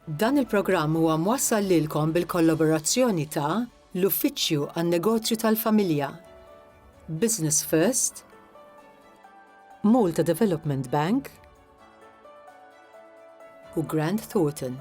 Dan il-programm huwa mwassal lilkom bil-kollaborazzjoni ta' l-Uffiċċju għan-Negozju tal-Familja, Business First, Malta Development Bank u Grant Thornton.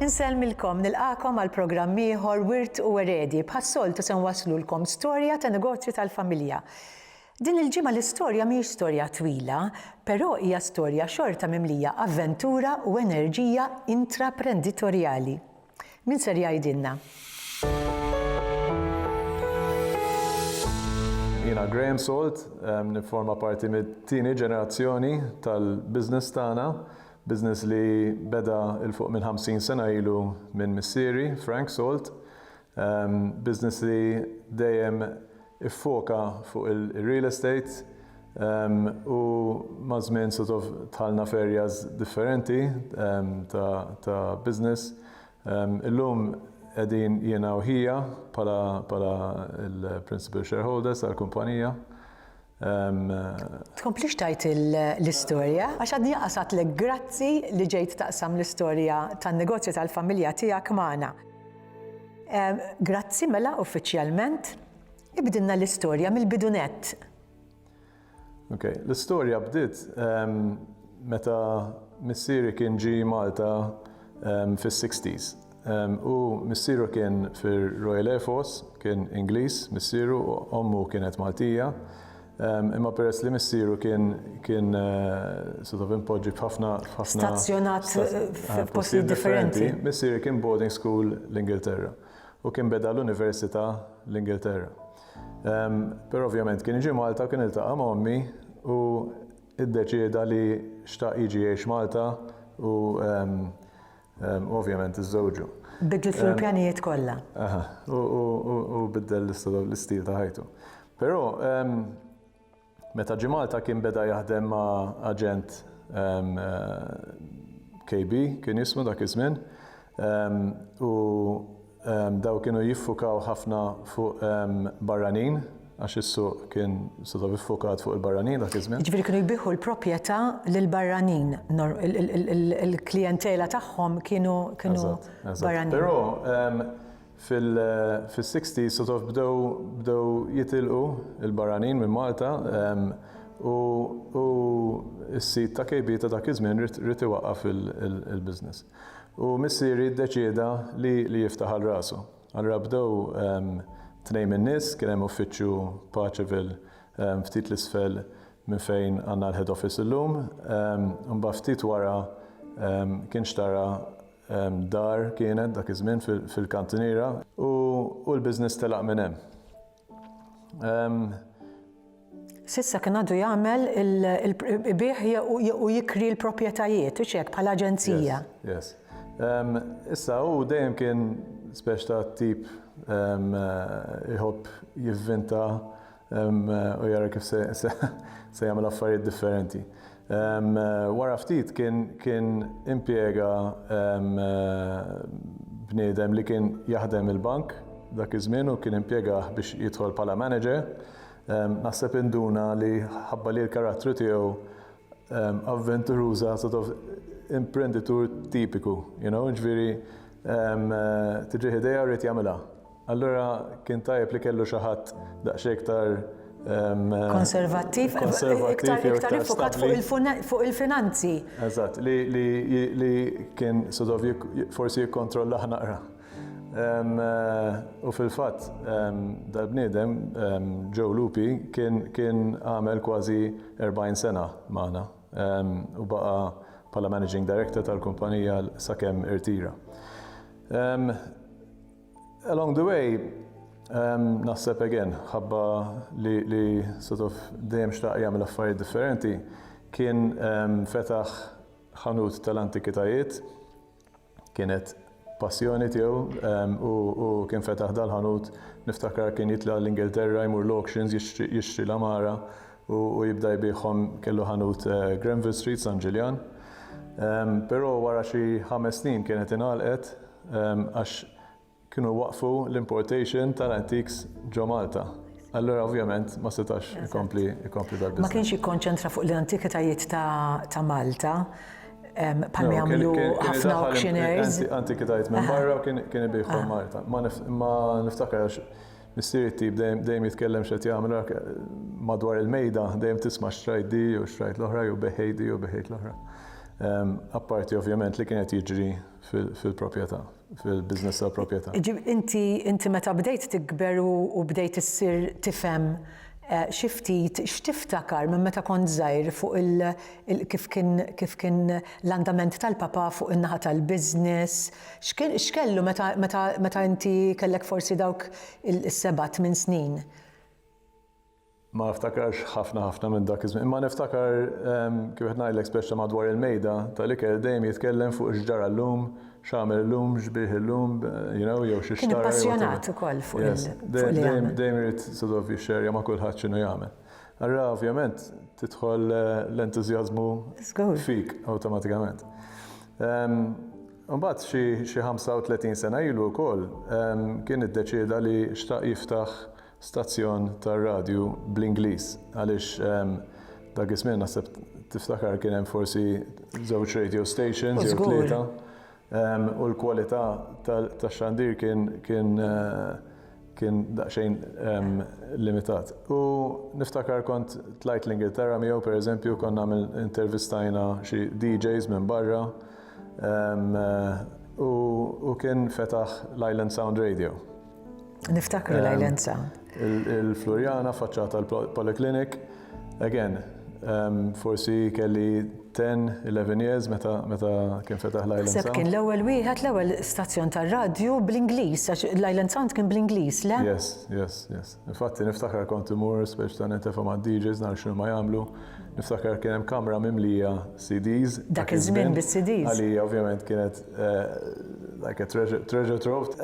Insellmilkom, nilqagħkom għal programm ieħor Wirt u Eredi. Bħas-soltu se nwasslulkom storja ta' negozju tal-familja. Din il-ġimgħa l-istorja mhijiex storja twila, però hija storja xorta mimlija avventura u enerġija intraprenditorjali. Min ser jgħidilna? Jiena Graham Salt, nifforma parti mit-tieni ġenerazzjoni tal-business tagħna, business li beda 'l fuq minn 50 sena ilu minn missieri, Frank Salt. Business li dejjem iffoka fuq il-real estate u maż-żmien sort of dħalna f'areas differenti ta' business. Illum qegħdin jiena u ħija bħala l-principal shareholders tal-kumpanija. Tkomplix tgħid l-istorja għax għadni anqas għedtlek grazzi li ġejt taqsam l-istorja tan-negozju tal-familja tiegħek magħna. Grazzi mela uffiċjalment. Ibdilna l-istorja mill-bidu nett. Ok, l-istorja bdiet meta missieri kien ġie Malta fis-60s. Hu missieru kien fir-Royal Air Force, kien Ingliż missieru u ommu kienet Maltija. Imma peress li missieru kien kien sort of impoġġi b'ħafna ħafna stazzjonat f'postijiet differenti. Missieri kien boarding school l-Ingilterra u kien beda l-Università l-Ingilterra. Però ovvjament kien iġi Malta kien iltaqa' ma' ommi u iddeċieda li xtaq jiġi jgħix Malta u Ovvjament iżżewġu. Bidlet l-pjanijiet kollha. Aha, u biddel l-istil ta' ħajtu. Però meta ġi Malta kien beda jaħdem ma' aġent KB kien jismu dak iż-żmien u Dawn kienu jiffukaw ħafna fuq barranin għax is-suq kien sort of iffukat fuq il-barranin dak iż-żmien. Jiġifieri kienu jbigħu l-propjetà lil barranin, il-klijentela tagħhom kienu kienu barranin. Però fis-sixties sort of bdew bdew jitilqu l-barranin minn Malta u s-sid ta' KB ta' dak iż-żmien ried iwaqqaf il-business. U missieri ddeċieda li li jiftaħ għal rasu. Allura bdew tnejn min-nies, kien hemm uffiċċju Paceville ftit 'l isfel minn fejn għandna l-head office illum. Imbagħad ftit wara kien xtara dar kienet dak iż-żmien fil-Kantiniera u l-business telaq minn hemm. S'issa kien għadu jagħmel il-bih u jikri l-proprjetajiet, hux hekk, bħala aġenzija. Yes. Issa hu dejjem kien speċ ta' tip iħobb jivvinta u jara kif se jagħmel affarijiet differenti. Wara ftit kien impjega bniedem li kien jaħdem il-bank dak iż-żmien u kien impjegah biex jidħol bħala manager. Naħseb induna li ħabba li l-karattru tiegħu avventuruża sort of imprenditur tipiku, you know, jiġifieri tiġih idea u jrid jagħmilha. Allura kien tajjeb li kellu xi ħadd daqsxejn iktar konservattiv, iktar iktar ifokat fuq il-finanzi. Eżatt, li kien sodov forsi jikkontrolla ħnaqra. U fil-fatt, dal-bniedem, Joe Lupi, kien għamel kważi 40 sena magħna u baqa' bħala managing director tal-kumpanija sakemm irtira. Along the way, um, naħseb again, ħabba li, li sort of dejjem xtaq jagħmel affarijiet differenti, kien um, fetaħ ħanut tal-antikitajiet, kienet passjoni tiegħu um, u, u kien fetaħ dal-ħanut niftakar kien jitla l-Ingilterra jmur l-auctions jixtri, jixtri l-amara u, u jibda jbieħhom kellu ħanut uh, Granville Street San Ġiljan. Um, Però wara xi ħames snin kienet inalqet għax kienu jwaqqfu l-importation tal-antiques ġo Malta. Allura ovvjament ma setax ikompli ikompli dal Ma kienx jikkonċentra fuq l-antikitajiet ta' Malta bħal ma jagħmlu ħafna auctioneers. Antikitajiet minn barra u kien ibiħhom ah. Malta. Ma niftakar għax missieri tip dejjem jitkellem x'qed jagħmel madwar il-mejda dejjem tisma' xtrajt di u xtrajt l-oħra jew beħejdi u beħejt l-oħra. Apparti ovvjament li kienet jiġri fil-proprjetà, fil-business tal-proprjetà. Inti, inti meta bdejt tikber u bdejt issir tifhem xi ftit, x'tiftakar minn meta kont żgħir fuq il, kif kien, kif kien l-andament tal-papà fuq in-naħa tal-business? X'kien, x'kellu meta, meta, meta inti kellek forsi dawk is-seba' tmien snin? Ma niftakarx ħafna ħafna minn dak iż-żmien, imma niftakar kif qed ngħidlek speċta madwar il-mejda tal-ikel dejjem jitkellem fuq x'ġara llum, x'għamel illum, x'biegħ illum, you know, jew xi xtara jew whatever. Kien appassjonat ukoll fuq li jagħmel. Dejjem irid sort of jixxerja ma' kulħadd x'inhu jagħmel. Allura ovvjament tidħol l-entużjażmu fik awtomatikament. Imbagħad xi 35 sena ilu wkoll kien iddeċieda li xtaq jiftaħ stazzjon tar-radju bl-Ingliż għaliex ehm, dak iż-żmien naħseb tiftakar kien hemm forsi żewġ radio stations jew tlieta ehm, u l-kwalità tax-xandir kien kien eh, kien daqsxejn ehm, limitat. U niftakar kont tlajt l-Ingilterra miegħu pereżempju konna intervistajna xi DJs minn barra eh, u kien fetaħ l-Island Sound Radio. Niftakru l-Ajlenza. Il-Floriana faċċata l-Poliklinik, again, forsi kelli 10-11 years meta kien fetaħ l-Island Sound. Seb kien l-ewwel wieħed l-ewwel stazzjon tar-radju bl-Ingliż, għax l-Island Sound kien bl-Ingliż, le? Yes, yes, yes. Infatti niftakar kont imur speċ ta' netefa ma' DJs nar xinu ma jagħmlu. Niftakar kien hemm kamra mimlija CDs. Dak iż-żmien bis-CDs. Għalija ovvjament kienet Like a treasure, treasure trove.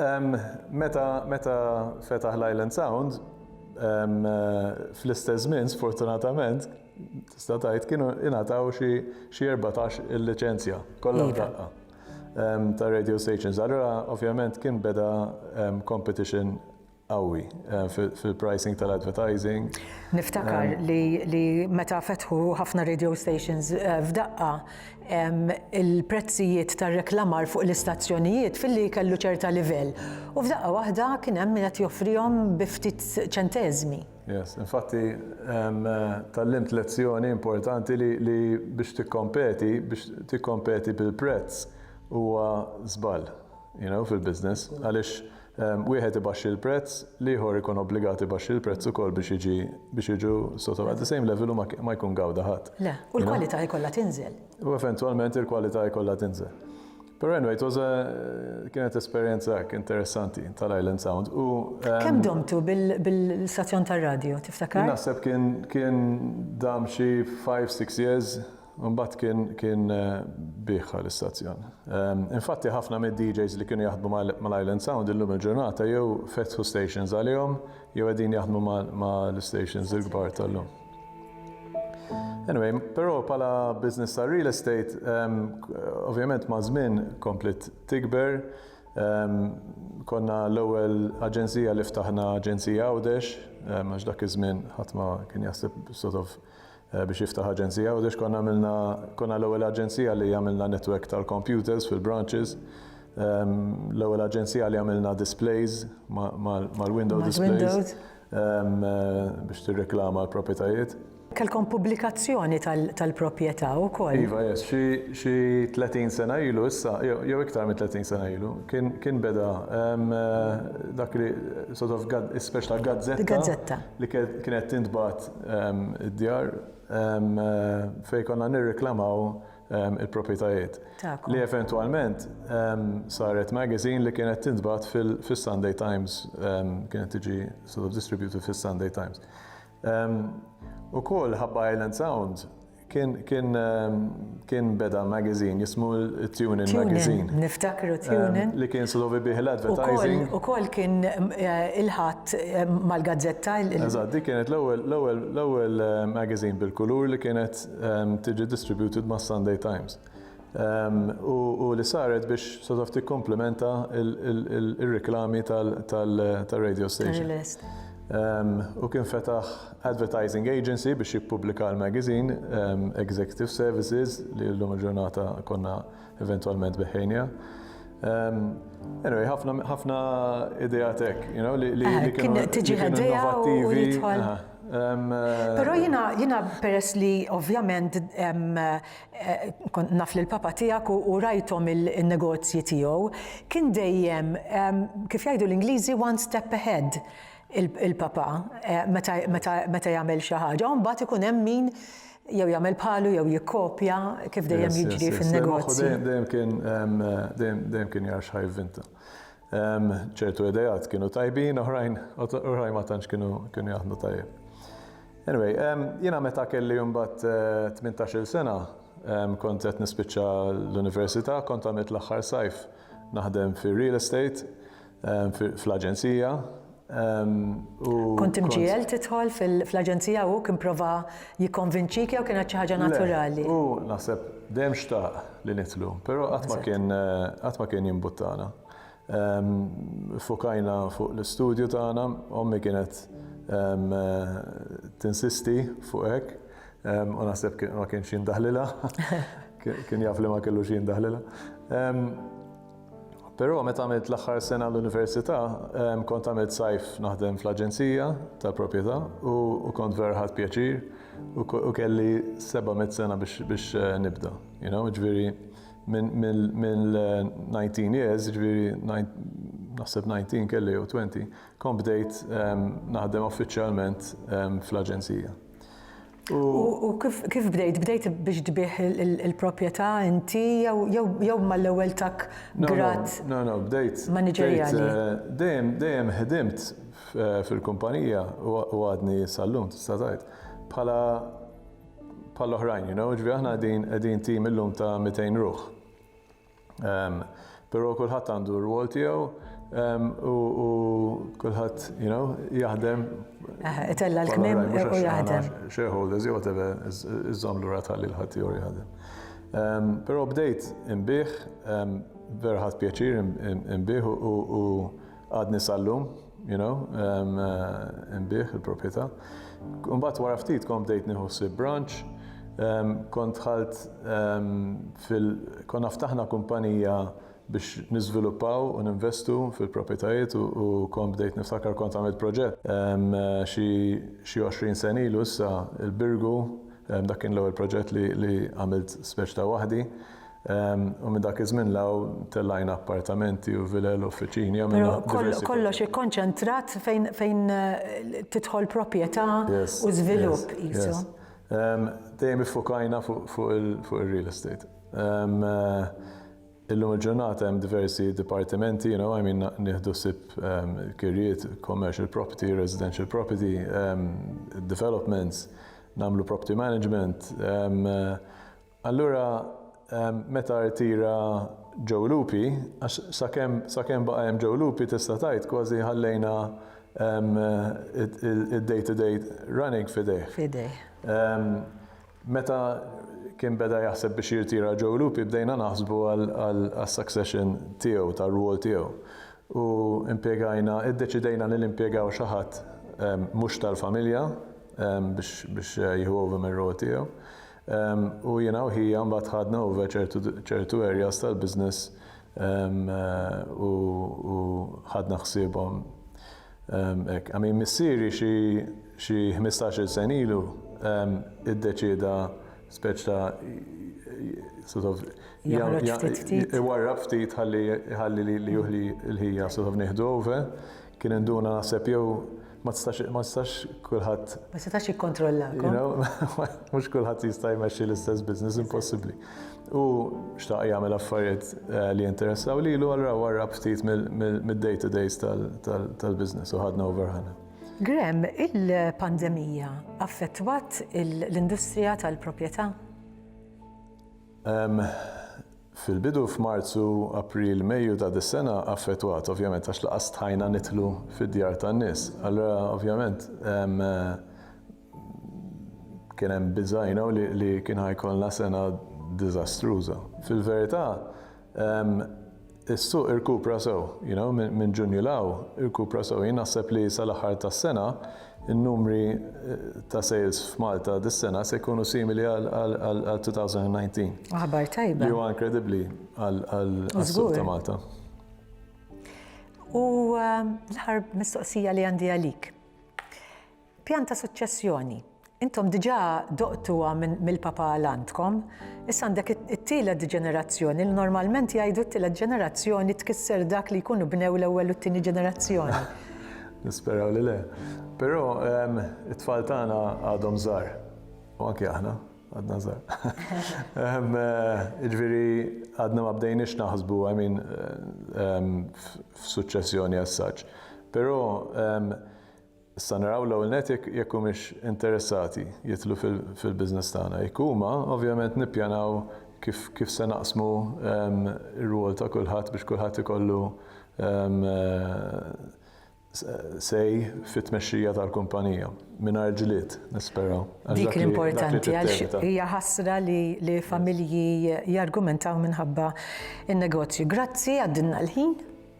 Meta, meta fetaħ l-Island Sound, fl-istess żmien sfortunatament tista' tgħid kienu ingħataw xi xi 14 il-liċenzja kollha f'daqqa ta' radio stations. Allura ovvjament kien beda competition qawwi fil-pricing tal-advertising. Niftakar li meta fetħu ħafna radio stations f'daqqa, il-prezzijiet tar-reklamar fuq l-istazzjonijiet filli kellu ċerta livell u f'daqqa waħda kien hemm min qed joffrihom bi ftit ċenteżmi. Yes, infatti tgħallimt lezzjoni importanti li biex tikkompeti, biex tikkompeti bil-prezz huwa żball, you know, fil-business għaliex wieħed ibaxxi l-prezz, l-ieħor ikun obbligat ibaxxi l-prezz ukoll biex jiġi biex jiġu sotto at the same level u ma ma jkun gawda ħadd. Le, u l-kwalità jkollha tinżel. U eventwalment il-kwalità jkollha tinżel. Però anyway, it was a kienet esperjenza hekk interessanti tal-Island Sound u Kemm domtu bil-stazzjon tar-radju, tiftakar? Naħseb kien kien dam xi five, six years. Imbagħad kien kien bigħha l-istazzjon. Infatti ħafna mid-DJs li kienu jaħdmu mal-Island Sound illum il-ġurnata jew fetħu stations għalihom jew qegħdin jaħdmu mal-istations il-kbar tal-lum. Anyway, però bħala business ta' real estate, ovvjament ma' żmien kompliet tikber. Konna l-ewwel aġenzija li ftaħna aġenzija Għawdex, għax dak iż-żmien ħadd ma kien jaħseb sort of biex jiftaħ aġenzija Għawdex konna għamilna konna l-ewwel aġenzija li għamilna netwerk tal-computers fil-branches l-ewwel aġenzija li għamilna displays mal-window displays biex tirreklama l-proprjetajiet. Kelkom pubblikazzjoni tal-proprjetà wkoll? Iva, yes. Xi 30 sena ilu issa, jew iktar minn 30 sena ilu, kien beda dak li sort of speċi ta' gazzetta li kienet tintbagħat id-djar fejn konna nirriklamaw il-proprjetajiet. Li eventwalment saret magazine li kienet tintbagħat fis-Sunday Times, kienet tiġi sort of distributed fis-Sunday Times. Ukoll Ħabba Island Sound Kien, kien, kien beda magazine jismu Tunin Magazine. Niftakru Tunin. Li kien slovi bih l-advertising. U kol kien il-ħat mal-gazzetta. Eżad, di kienet l-ewel magazine bil-kulur li kienet tiġi distributed ma' Sunday Times. u li saret biex sort of tikkomplementa r-riklami tar-radio station. Hu kien fetaħ advertising agency biex jippubblika l-magazine, Executive Services, li llum il-ġurnata konna eventwalment beħħejniha. Anyway, ħafna ideat hekk, you know, li kienu innovattivi. Però jiena peress li ovvjament Kont naf lill-papa tiegħek u rajthom in-negozji tiegħu. Kien dejjem, kif jgħidu l-Ingliżi, one step ahead il-papa meta jagħmel xi ħaġa u mbagħad ikun hemm min jew jagħmel bħalu jew jikkopja kif dejjem jiġri fin-negozji. Moħħu dejjem kien jara x'ħa jivvinta. ċertu idejat kienu tajbin, oħrajn, oħrajn ma tantx kienu kienu jaħdmu tajjeb. Anyway, jiena meta kelli mbagħad 18-il eh, sena kont qed nispiċċa l-università, kont għamilt l-aħħar sajf naħdem fir-real estate fl-aġenzija Kont imġiegħel tidħol fl-aġenzija u kien prova jikkonvinċik jew kienet xi ħaġa naturali? U naħseb dejjem xtaq li nidħlu, però qatt ma kien qatt ma kien jimbuttana. Fokajna fuq l-istudju tagħna, ommi kienet tinsisti fuq hekk u naħseb ma kienx jindaħlilha, kien jaf li ma kellux jindaħlilha. Però meta għamilt l-aħħar sena l-università, kont għamilt sajf naħdem fl-aġenzija tal-proprjetà u kont vera ħadt pjaċir u kelli 700 sena biex nibda. Ġifieri mill-19 years, ġifieri naħseb 19 kelli jew 20, kont bdejt naħdem uffiċjalment fl-aġenzija. U kif bdejt? Bdejt biex tbih il-proprjetà inti jew mal-ewwel tak grad? No, no, bdejt. Maniġerjali. Dejjem, dejjem ħdimt fil-kumpanija u għadni sal-lum tista' tgħid. Bħala bħall-oħrajn, you know, ġifieri aħna qegħdin tim illum ta' 200 ruħ. Um, Pero kulħadd għandu r-rwol tiegħu um, u, u kulħadd, you know, jaħdem. Eh, itella l-kmim u jaħdem. Shareholders, jew whatever, iżżom l-ura tal-li l-ħadd jew jaħdem. Um, Pero bdejt imbieħ, um, vera ħadd pjaċir imbieħ u Għadni sal-lum, you know, nbih il-proprjetà. Mbagħad wara ftit kont bdejt nieħu ħsieb branch, kont dħalt fil konna ftaħna kumpanija biex niżviluppaw u ninvestu fil-proprjetajiet u kont bdejt niftakar kont għamilt proġett xi xi 20 sena ilu issa il-Birgu dak kien l-ewwel proġett li għamilt speċi ta' waħdi U minn dak iż-żmien 'l hawn tellajna appartamenti u vilel u uffiċini, għamilna diversi. Però kollox, kollox ikkonċentrat fejn, fejn tidħol proprjetà u żvilupp qisu. Dejjem iffukajna fuq, fuq ir-real estate. Illum il-ġurnata hemm diversi dipartimenti, you know, I mean nieħdu ħsieb kirjiet, commercial property, residential property, developments, nagħmlu property management. Allura meta rtira Joe Lupi, għax sakemm sakemm baqa' hemm Joe Lupi tista' tgħid kważi ħallejna d-day to day running f'idejh. F'idejh. Meta kien beda jaħseb biex jirtira Joe Lupi bdejna naħsbu għas-succession tiegħu, tar-rwol tiegħu. U impjegajna, iddeċidejna li nimpjegaw xi ħadd mhux tal-familja biex jieħu over mir-rwol tiegħu. U jiena u ħija mbagħad ħadna over ċertu ċertu areas tal-business u u ħadna ħsiebhom hekk. I mean missieri xi xi ħmistax-il sena ilu iddeċieda speċi ta' sort of iwarrab ftit ħalli li ħalli li li hu li l-ħija sort of nieħdu over. Kien induna naħseb jew ma tistax ma tistax kulħadd. Ma setax jikkontrollak. Mhux kulħadd jista' jmexxi l-istess business impossibbli. U xtaq jagħmel affarijiet eh, li jinteressaw lilu allura wara ftit mid-day to days tal-business u ħadna over ħana. Grem, il-pandemija affettwat l-industrija tal-proprjetà? fil-bidu f'Marzu, April, Mejju ta' dis-sena affettwat ovvjament għax laqas stħajna nidħlu fid-djar tan-nies. Allura ovvjament kien hemm biża' li kien ħa jkollna sena diżastruża. Fil-verità Is-suq irkupra sew, you know, minn Ġunju 'l hawn, irkupra sew. Jien naħseb li sal-aħħar tas-sena n-numri ta' sales f'Malta dis-sena se jkunu simili għal 2019. Aħbar tajba. Li huwa inkredibbli għas-suq ta' Malta. Żgur. U l-aħħar mistoqsija li għandi għalik. Pjan ta' suċċessjoni. Intom diġà doqtuha mill-Papa għal għandkom. Issa għandek it-tielet ġenerazzjoni li normalment jgħidu t-tielet ġenerazzjoni tkisser dak li jkunu bnew l-ewwel u t-tieni ġenerazzjoni. Nisperaw li le. Però ehm, it-tfal tagħna għadhom żgħar. U anke aħna għadna żgħar. Ehm, eh, jiġifieri għadna ma bdejniex naħsbu I mean eh, ehm, f'suċċessjoni as such. Però Issa naraw l-ewwel nett jekk jekk humiex interessati jidħlu fil-business tagħna. Jekk huma, ovvjament nippjanaw kif kif se naqsmu r-rwol ta' kulħadd biex kulħadd ikollu say fit-tmexxija tal-kumpanija. Mingħajr ġlied, nisperaw. Dik l-importanti għax hija ħasra li familji jargumentaw minħabba n-negozju. Grazzi, għaddilna l-ħin.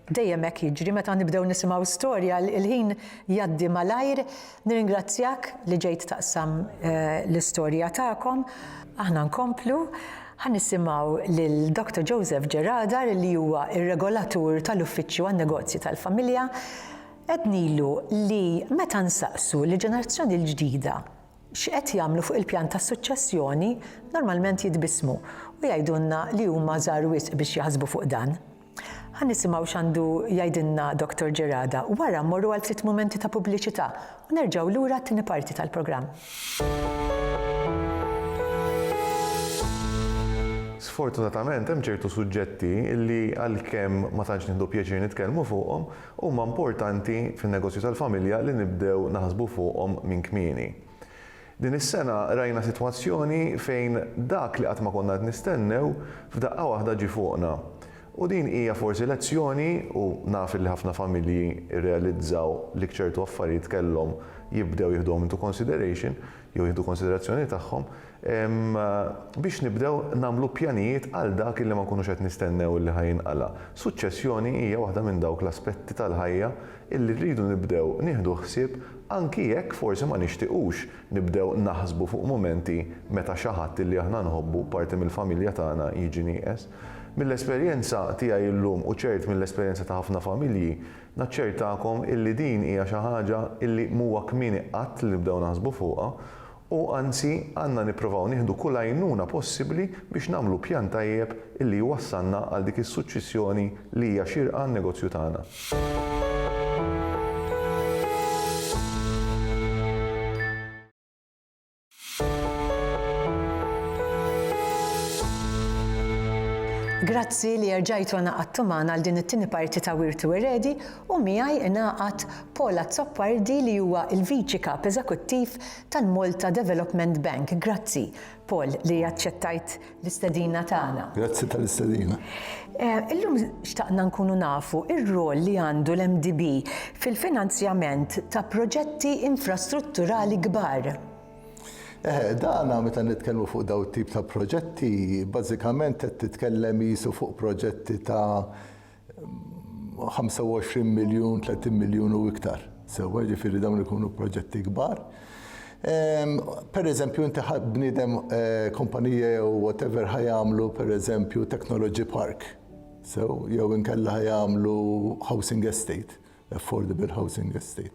Dejjem hekk jiġri meta nibdew nisimgħu storja, il-ħin jgħaddi malajr. Nirringrazzjak li ġejt taqsam l-istorja tagħkom. Aħna nkomplu. Ħa nisimgħu lil Doctor Joseph Gerardar li huwa r-Regolatur tal-Uffiċċju għan-Negozji tal-Familja. Għednilu li meta nsaqsu lill-ġenerazzjoni l-ġdida x'qed jagħmlu fuq il-pjan tas-suċċessjoni, normalment jitbissmu u jgħidulna li huma żgħar wisq biex jaħsbu fuq dan. Ħa nisimgħu x'għandu jgħidilna Dottor Gerada, wara mmorru għal ftit mumenti ta' pubbliċità u nerġgħu lura għat-tieni parti tal-programm. Sfortunatament hemm ċertu suġġetti li għalkemm ma tantx nieħdu pjaċir nitkellmu fuqhom, huma importanti fin-negozju tal-familja li nibdew naħsbu fuqhom minn kmieni. Din is-sena rajna sitwazzjoni fejn dak li qatt ma konna qed nistennew f'daqqa waħda ġie fuqna. U din hija forsi lezzjoni u naf illi ħafna familji rrealizzaw li ċertu affarijiet kellhom jibdew jiħduhom into consideration jew jieħdu konsiderazzjoni tagħhom biex nibdew nagħmlu pjanijiet għal dak illi ma nkunux qed nistennew illi ħa jinqala'. Suċċessjoni hija waħda minn dawk l-aspetti tal-ħajja illi rridu nibdew nieħdu ħsieb anki jekk forsi ma nixtiqux nibdew naħsbu fuq mumenti meta xi ħadd illi aħna nħobbu, parti mill-familja tagħna, jiġi nieqes. Mill-esperjenza tiegħi illum u ċert mill-esperjenza ta' ħafna familji, naċċertakom illi din hija xi ħaġa illi m'huwa kmieni qatt li nibdew naħsbu fuqha u anzi għandna nippruvaw nieħdu kull għajnuna possibbli biex nagħmlu pjan tajjeb li jwassalna għal dik is-suċċessjoni li hija xierqa għan-negozju tagħna. Grazzi li erġajtu għanaqadtu magħna għal din it-tieni parti ta' Wirtu Eredi u miegħi ingħaqad Paul Azzopardi li huwa l-Viċi Kap Eżekuttiv tal-Malta Development Bank. Grazzi, Paul, li aċċettajt l-istedina tagħna. Grazzi tal-istedina. Illum xtaqna nkunu nafu r-rwol li għandu l-MDB fil-finanzjament ta' proġetti infrastrutturali kbar. Eħe, dan meta nitkellmu fuq dawn it-tip ta' proġetti, bażikament qed titkellem qisu fuq proġetti ta' 25 miljun, 30 miljun u iktar. Sewa ġifiri dawn ikunu proġetti kbar. Per eżempju, inti bnidem eh, kompanija jew whatever ħajamlu per eżempju technology park. Sew, jew inkella ħajamlu housing estate affordable housing estate,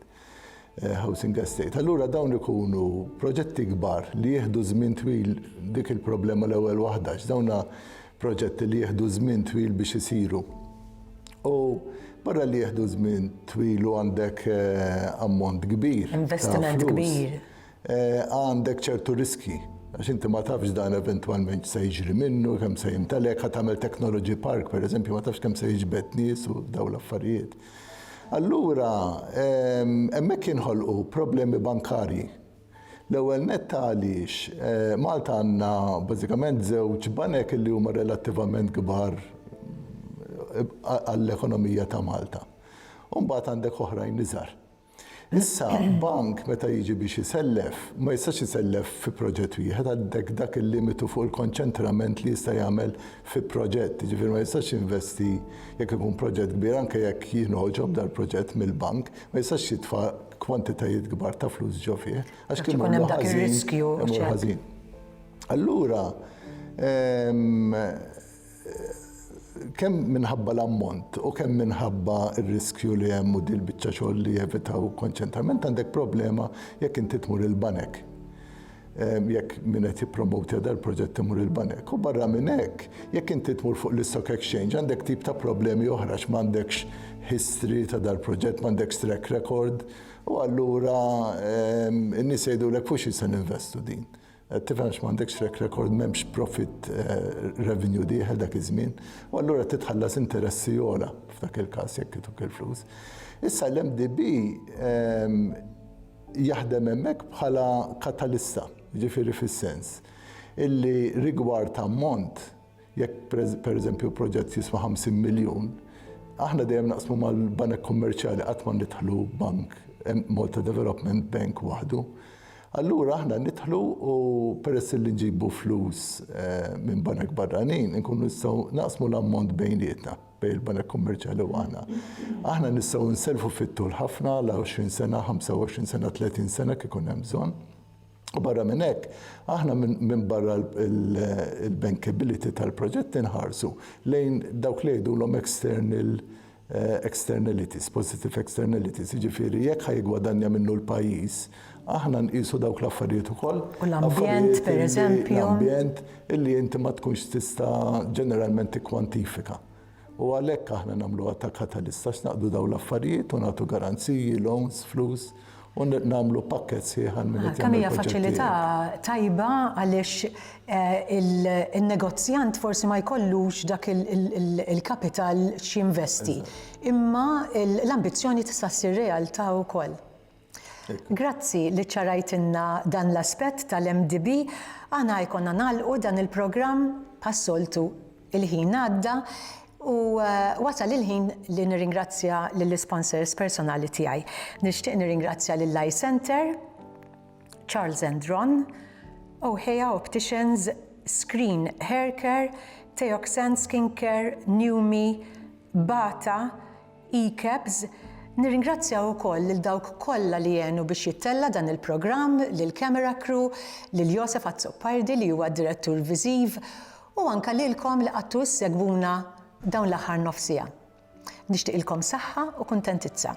eh, housing estate. Allura dawn ikunu proġetti kbar li jieħdu żmien twil dik il-problema l-ewwel waħda, dawna proġetti li jieħdu żmien twil biex isiru. U barra li jieħdu żmien twil u għandek eh, ammont kbir. Investiment kbir. għandek ċertu riskji għax inti ma tafx dan eventwalment se jiġri minnu, kemm se jintalek, ħa tagħmel technology park, per eżempju, ma tafx kemm se jiġbed nies u daw l-affarijiet. Allura, ehm, hemmhekk jinħolqu problemi bankarji. L-ewwel nett għaliex eh, Malta għandna bażikament żewġ banek li huma relattivament kbar eh, għall-ekonomija ta' Malta. Umbagħad għandek oħrajn iżgħar. Issa, bank meta jiġi biex isellef, ma jistax isellef fi proġett wieħed, għandek dak il-limitu fuq il-konċentrament li jista' jagħmel fi proġett, jiġifieri ma jistax jinvesti jekk ikun proġett kbir, anke jekk jinħoġob dal-proġett mill-bank, ma jistax jitfa' kwantitajiet kbar ta' flus ġo fih, għax kien ikun hemm dak ir-riskju, imur ħażin. Allura, kemm minħabba l-ammont u kemm minħabba r-riskju li hemm u din biċċa xogħol li jevitaw konċentrament għandek problema jekk inti tmur il-banek. Ehm, jekk min qed jippromotja dal-proġett imur il-banek. U barra minn hekk, jekk inti tmur fuq l-Stock Exchange għandek tip ta' problemi oħra x'm'għandekx history ta' dal-proġett, m'għandekx track record, u allura ehm, in-nies jgħidulek fuq xi se ninvestu din. Qed tifhem għax m'għandekx track record, m'hemmx profit revenue dieħel dak iż-żmien, u allura qed titħallas interessi ogħla f'dak il-każ jekk ituk il-flus. Issa l-MDB jaħdem hemmhekk bħala katalista, jiġifieri fis-sens illi rigward ammont Jekk pereżempju proġett jiswa 50 miljun, aħna dejjem naqsmu mal-banek kummerċjali qatt ma nidħlu bank Malta Development Bank waħdu. Allura aħna nidħlu u peress li nġibu flus eh, minn banek barranin, inkunu nistgħu naqsmu l-ammont bejnietna bejn il-banek kummerċjali u aħna. Aħna nistgħu nselfu fit-tul ħafna la 20 sena, 25 sena, 30 sena kif ikun hemm bżonn. U barra minn hekk, aħna minn barra l-bankability tal-proġett inħarsu lejn dawk li jgħidulhom external eh, externalities, positive externalities, jiġifieri jekk ħajgwadanja minnu l-pajjiż, aħna nqisu dawk l-affarijiet ukoll. U l-ambjent, per eżempju. L-ambjent illi inti ma tkunx tista' ġeneralment tikkwantifika. U għalhekk aħna nagħmluha ta' katalist għax naqdu dawn l-affarijiet u nagħtu garanziji, loans, flus u nagħmlu pakkett sħiħ għal min qed jagħmel il-proġett tiegħek. Kemm hija faċilità tajba għaliex eh, in-negozjant forsi ma jkollux dak il-kapital x'jinvesti. Imma l-ambizzjoni tista' ssir realtà wkoll. Grazzi li ċċarajtilna dan l-aspett tal-MDB. Aħna jkollna nagħlqu dan il-programm bħas-soltu il-ħin għadda u wasal il-ħin li nirringrazzja lill-isponsors personali tiegħi. Nixtieq nirringrazzja lill-Eye Centre, Charles and Ron, Ohea Opticians, Screen Haircare, Teoxane Skincare, Numi, Bata, ECAPS, Nirringrazzja wkoll lil dawk kollha li għenu biex jittella' dan il-programm, lill-camera crew, lil Josef Azzopardi li huwa d-Direttur Viżiv, u anke lilkom li qgħadtu ssegwuna dawn l-aħħar nofs siegħa. Nixtieqilkom saħħa u kuntentizza.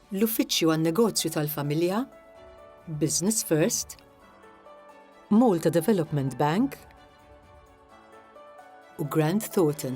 l-Uffiċċju għan-Negozju tal-Familja, Business First, Malta Development Bank u Grant Thornton.